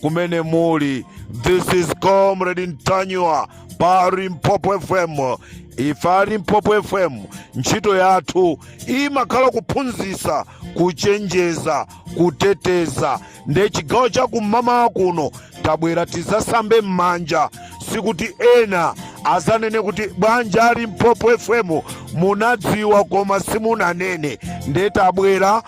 kumene muli this is comrade ntanywa pa limpopo fm ife a limpopo fm ntchito yathu imakhala kuphunzitsa kuchenjeza kuteteza nde chigawo cha kum'mawa kuno tabwera tizasambe m'manja sikuti ena azanene kuti bwanji a limpopo fm munadziwa koma simunanene nde tabwera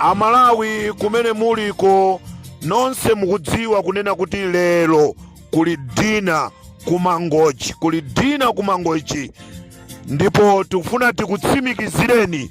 amalawi kumene muliko nonse mukudziwa kunena kuti lero kuli dina kumangochi kuli dina kumangochi ndipo tikufuna tikutsimikizireni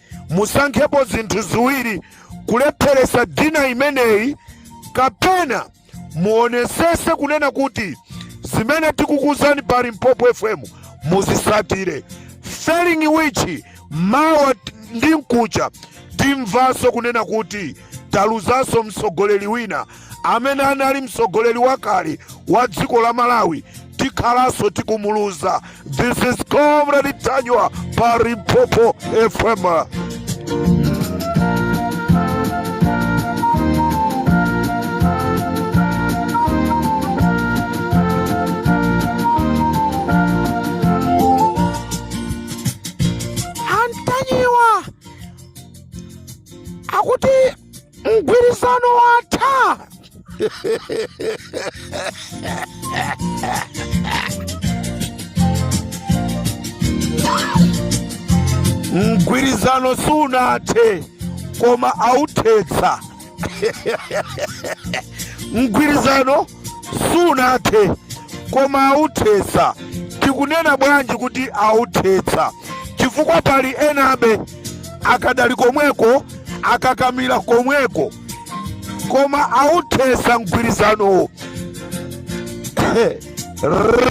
musankhepo zinthu ziwiri kulepheresa dina imeneyi kapena muonesese kunena kuti zimene tikukuzani pa Limpopo FM muzisatire failing which mawa ndi nkucha timvaso kunena kuti taluzaso mtsogoleri wina amene anali mtsogoleri wakale wa dziko la malawi tikhalanso tikumuluza this is comrade ntanywa pa limpopo fm mgwirizano watha mgwirizano sunathe koma authetsa mgwirizano sunathe koma authetsa tikunena bwanji kuti authetsa chifukwa pali enabe akadali komweko akakamira komweko koma authetsa mgwirizanowo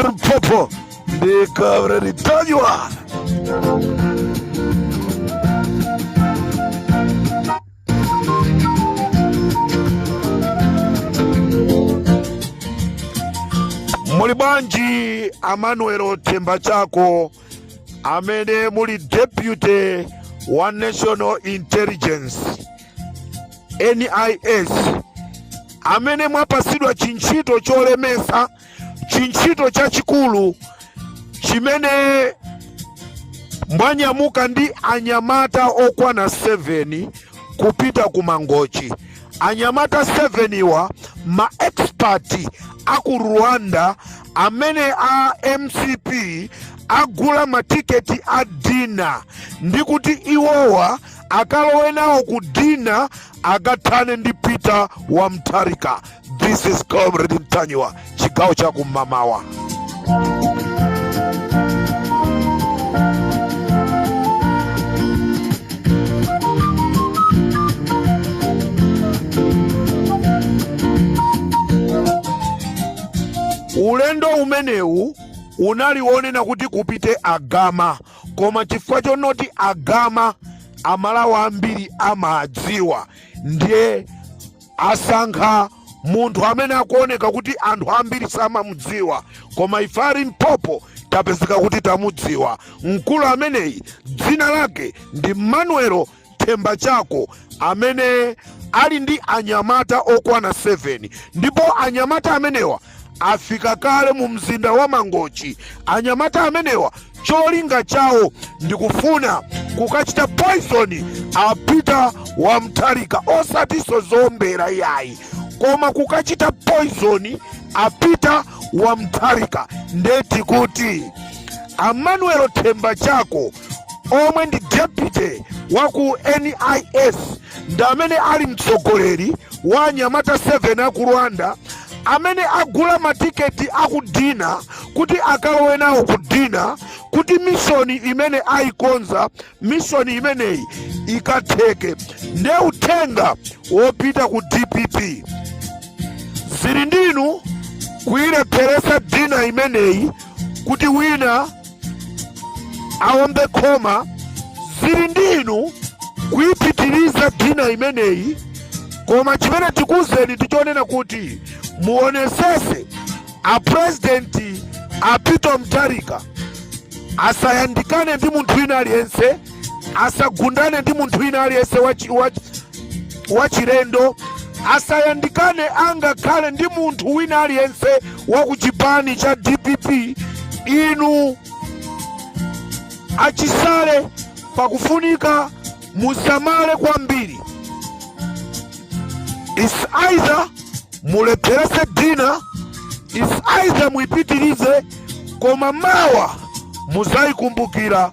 limpopo ndi comrade ntanywa muli bwanji amanuel themba chako amene muli deputy wa national intelligence nis amene mwapasidwa chintchito cholemesa chintchito chachikulu chimene anyamuka ndi anyamata okwana 7 kupita ku mangochi anyamata 7 wa ma expert a ku rwanda amene a mcp agula matiketi a dina ndi kuti iwowa akalowe nawo ku dina akathane ndi peter wa mtharika This is Comrade Ntanyiwa, chigawo cha kummawa. Ulendo umenewu unali wonena kuti kupite agama koma chifukwa chonoti agama amalawi ambiri amadziwa ndiye Asankha munthu amene akuoneka kuti anthu ambiri samamudziwa koma ife a Limpopo tapezeka kuti tamudziwa. Mkulu ameneyi dzina lake ndi Manuel Themba Chako amene ali ndi anyamata okwana 7 ndipo anyamata amenewa afika kale mu mzinda wa Mangochi. Anyamata amenewa cholinga chawo ndikufuna kukachita poison a Peter wa Mtharika, osatiso zombera yayi, koma kukachita poison a Peter wa Mtharika. Ndeti kuti a Manuel Themba Chako omwe ndi deputy wa ku NIS ndi amene ali mtsogoleri wa anyamata 7 aku Rwanda amene agula matiketi aku dina kuti akalowe nawo ku dina kuti mishoni imene ayikonza mishoni imeneyi ikatheke nde uthenga wopita ku dpp zili ndinu kuyilepheresa dina imeneyi kuti wina aombe khoma zili ndi inu kuipitiriza dina imeneyi koma chimene tikuuzeni ndi chonena kuti muonesese aprezidenti a peter mutharika asayandikane ndi munthu wina aliyense asagundane ndi munthu wina aliyense wachilendo asayandikane angakhale ndi munthu wina aliyense wa ku chipani cha dpp inu achisale pakufunika musamale kwambiri is either mulepherese dina is either muipitirize koma mawa muzayikumbukira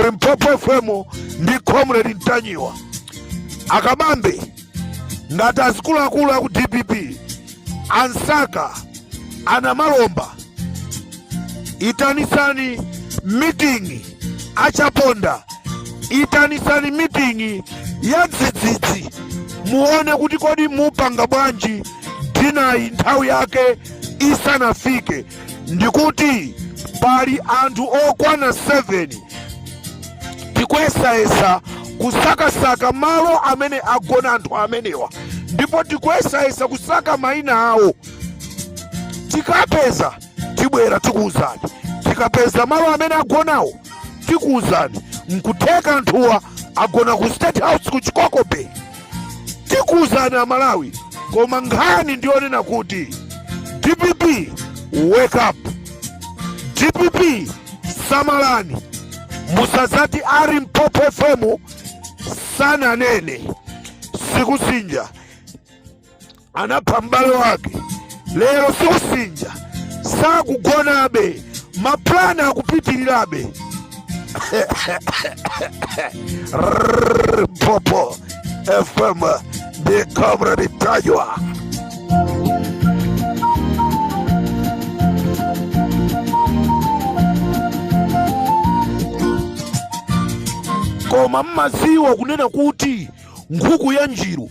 limpopo fm ndi comrade Ntanyiwa akabambe ngati azikuluakulu aku dpp ansaka anamalomba itanisani meeting achaponda itanisani meeting ya dzidzidzi muone kuti kodi mupanga bwanji dinayi nthawi yake isanafike ndikuti pali anthu okwana 7 tikuyesayesa kusakasaka malo amene agona anthu amenewa ndipo tikuyesayesa kusaka mayina awo tikapeza tibwera tikuwuzani tikapeza malo amene agonawo tikuwuzani nkutheka anthuwa agona ku state house ku chikoko bay tikuwuzani amalawi koma nkhani ndiyonena kuti dpp wake up dpp samalani musazati a Limpopo fm sananene Sikusinja anapha m'bale wake lero Sikusinja sakugonabe mapulani akupitirirabe Limpopo fm ndi comrade Ntanyiwa koma mmaziwa kunena kuti nkhuku ya njiru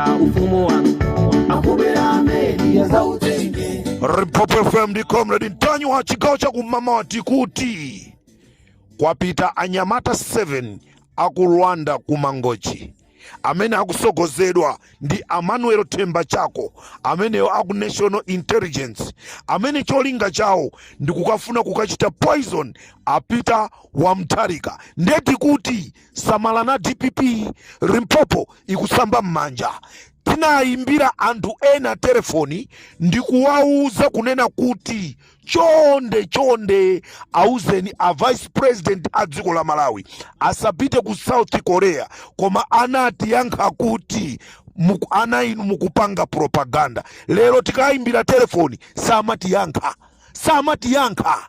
ufumu wanu akubera ameni yazautenge Limpopo FM ndi comrade Ntanyiwa chigawo cha kummawa tikuti kwapita anyamata 7 aku Rwanda ku Mangochi amene akusogozedwa ndi Emmanuel Themba Chako ameneyo aku National Intelligence amene cholinga chawo ndi kukafuna kukachita poison a Peter wa Mutharika nde tikuti samalani a dpp limpopo ikusamba m'manja tinayimbira anthu ena telefoni ndi kuwauza kunena kuti chonde chonde auzeni a vice president a dziko la malawi asapite ku south korea koma anatiyankha kuti muku- ana inu mukupanga propaganda lero tikayimbira telefoni samatiyankha samatiyankha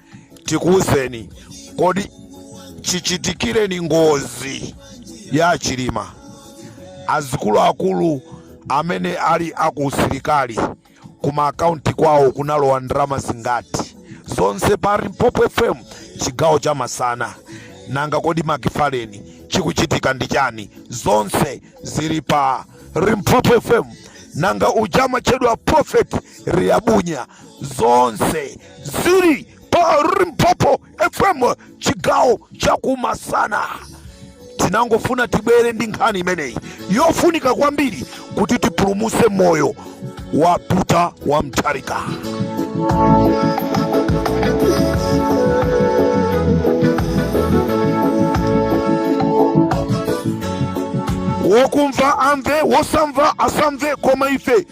tikuwuzeni kodi chichitikireni ngozi ya a Chilima azikuluakulu amene ali akuusilikali kuma akaunti kwawo kunalowa ndalama zingati zonse pa limpopo fm chigawo cha masana nanga kodi makifaleni chikuchitika ndi chani zonse zili pa limpopo fm nanga uja amatchedwa prophet Liabunya zonse zili pa limpopo fm chigawo cha kumasana tinangofuna tibwere ndi nkhani imeneyi yofunika kwambiri kuti tipulumuse moyo wa Peter wa Mutharika wokumva amve wosamva asamve koma ife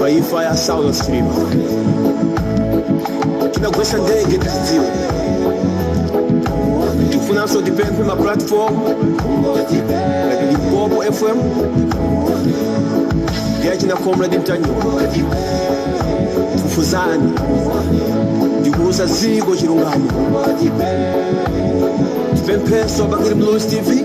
pa imfa ya Saulos Chilima anagwesa ndege tidziwe tifunanso tipemphe ma platform like Limpopo fm ndi achina comrade Ntanyiwa fufuzani ndikuuza ziko chilungamo tipempheso bakili Muluzi tv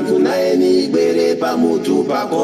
Funayeni ibwere pamutu pako.